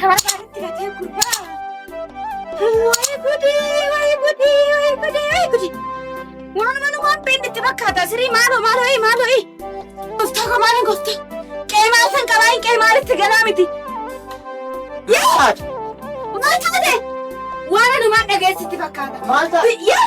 Kabarbaadetti latee gurbaa. Wayi gudi, wayi gudi, wayi gudi, wayi gudi. Waan mana waan beekne itti fakkaata. Sirii maaloo maaloo ee maaloo ee. Gooftaa koo maaliin gooftaa? Qe'ee maal san qabaa hin qe'ee maalitti galaa miti. Yaa! Maal taate? Waan anumaan dhageessitti fakkaata. Maal taate? Yaa!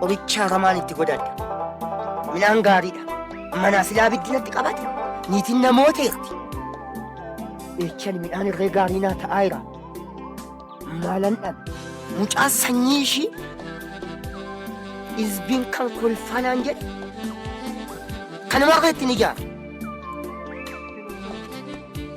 Qoricha hatamaan itti godhadha. Midhaan gaariidha. Manaa silaa biddinatti qabate. Niitiin namooteerti. Eechan midhaan irree gaarii naa ta'aa jira. Maalan dhabe. Mucaa sanyii ishii izbiin kan kolfaa naan jedhe. Kanuma irratti ni jaara.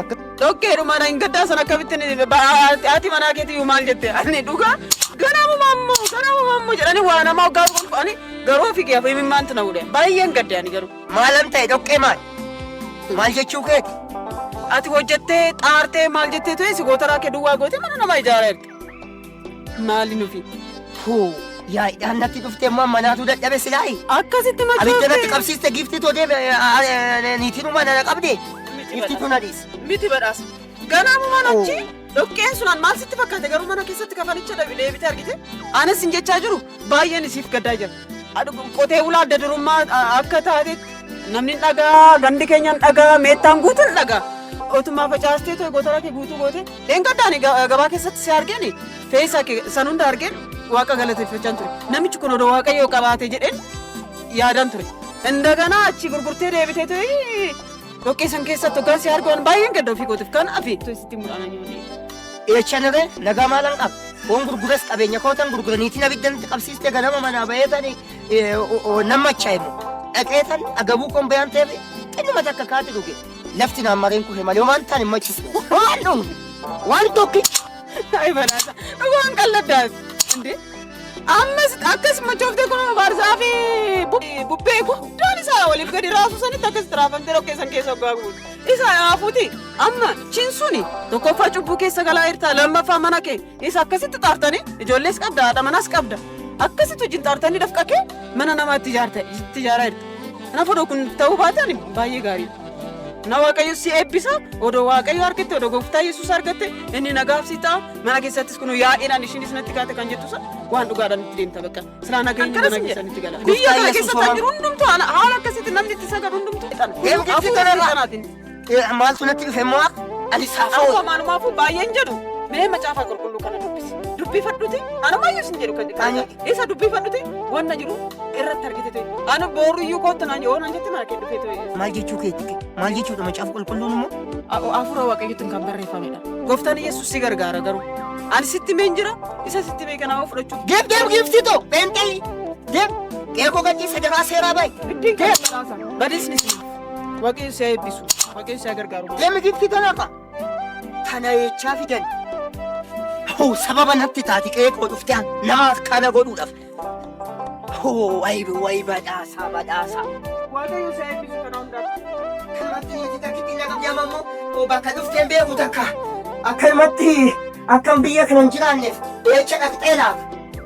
Akka Dhokkeedhuma na hin gaddaa sana akkamittiin haati manaa keetii iyyuu maal jette ani dhugaa ganamu mammu ganamu mammu jedhanii waa namaa hoggaa dhugan fa'anii garuu ofii kee afii mimmaantu na hudhe baay'een gadde ani garuu. maalan ta'e dhoqqee maal? Maal jechuu keeti? Ati hojjettee xaartee maal jettee ture si gootaraa kee duwwaa gootee mana namaa ijaareerti. Maali nufi? Huu, yaa'idhaan natti dhuftee immoo amma naatuu dadhabe silaayi. Akkasitti machoofte. Abidda natti qabsiiste giiftii too deeme niitiin uumaa nana qabde. Giiftii too na dhiise. Miti badhaasa. Ganaamumaan achi dhoqqeen sunaan maal sitti fakkaate garuu mana keessatti kafanicha dhabe deebitee argite. Anas sin jechaa jiru baay'een isiif gaddaa jira. Qotee bulaa adda durummaa akka taatetti namni dhagaa gandi keenyaan dhagaa meettaan guutuun dhagaa. Otumaa facaastee too gotara kee guutuu goote Dheengadda ani gabaa keessatti si argeen feeyisaa kee san hunda argeen waaqa galateeffachaan ture. Namichi kun odoo waaqayyoo qabaate jedheen yaadaan ture. Indaganaa achi gurgurtee deebitee ta'ee dhoqqee san keessatti hoggaan si argoon baay'een gadda ofii kootiif kan afi. Sitti mul'ana nyoonee. Eecha dhabe lagaa maalan qaba. Foon gurguras qabeenya kootan gurgura niitiin abiddan itti qabsiiste ganama manaa bahee tani namma cha'imu. Dhaqee tan agabuu koon bayaan ta'eef xinnuma takka kaati dhuge. Lafti naan mareen kufe malee homaan taan hin machisu. Homaan dhumu. Waan tokkicha. Ay balaasa. Dhugaan qalladdaas. Indee. Ammas akkas machooftee kun baarsaa fi bubbee guddaan isaa waliif gadi raasuu sanitti akkas tiraafamtee dhoqqee san keessa hoggaa guutu. Isa haafuuti amma chin suni tokkoffaa cubbuu keessa galaa jirta lammaffaa mana kee Isa akkasitti xaartanii ijoollees qabda haadha manaas qabda. Akkasitti wajjin xaartanii dafqa kee mana namaa itti ijaarta itti ijaaraa jirta. Kanaaf odoo kun ta'uu baatan baay'ee gaariidha. Na waaqayyo si eebbisa odoo waaqayyo argatte odoo gooftaa yesuus argatte inni nagaaf si ta'a mana keessattis kun yaa'inaan ishiinis natti kaate kan jettu sana waan dhugaadhaan itti deemta bakka silaa nageenyi mana keessan itti gala. Biyya kana keessatti jiru hundumtu haala akkasitti namni itti sagadu hundumtu. Kun hafuura kanaatiin. Eh, maaltu natti dhufe immoo akka ani saafaa Akkuma oolu. maalumaafuu baay'een jedhu mee macaafa qulqulluu kana dubbisi. Dubbifadhuti anumaayyuu sin jedhu kan Ani- jedhu. Isa dubbifadhuti wanna jiru irratti argite ta'e. Ani booruyyuu kootu naan yoo naan jette mana kee dhufee ta'e. Maal jechuu keetti? Maal jechuudha macaafa qulqulluun immoo? Hafuura waaqayyootiin kan barreeffamedha. Gooftaan Yesuus si gargaara garuu. Ani sitti mee hin jira isa sitti mee kanaa fudhachuu. Deem deem giiftii too pheenxee deem qeekoo gadhiisa daraa seeraa baay'ee. Ittiin kan badhaasa. Badisni. Waaqni si haa eebbisu. Waaqni si haa gargaaru. Deemi gifti tana ka. Tana jechaa fidan. Hoo sababa natti taati qe'ee koo dhufte an nama akkana godhuudhaaf. Hoo wayi wayi badhaasaa badhaasaa. Waaqayyo si haa eebbisu kana hundaaf. Kanatti nuti takkitti hin dhaqabne amma immoo hoo bakka dhufteen beeku takka. Akkanumatti akkan biyya kana hin jiraanneef eecha dhaqxee laaf.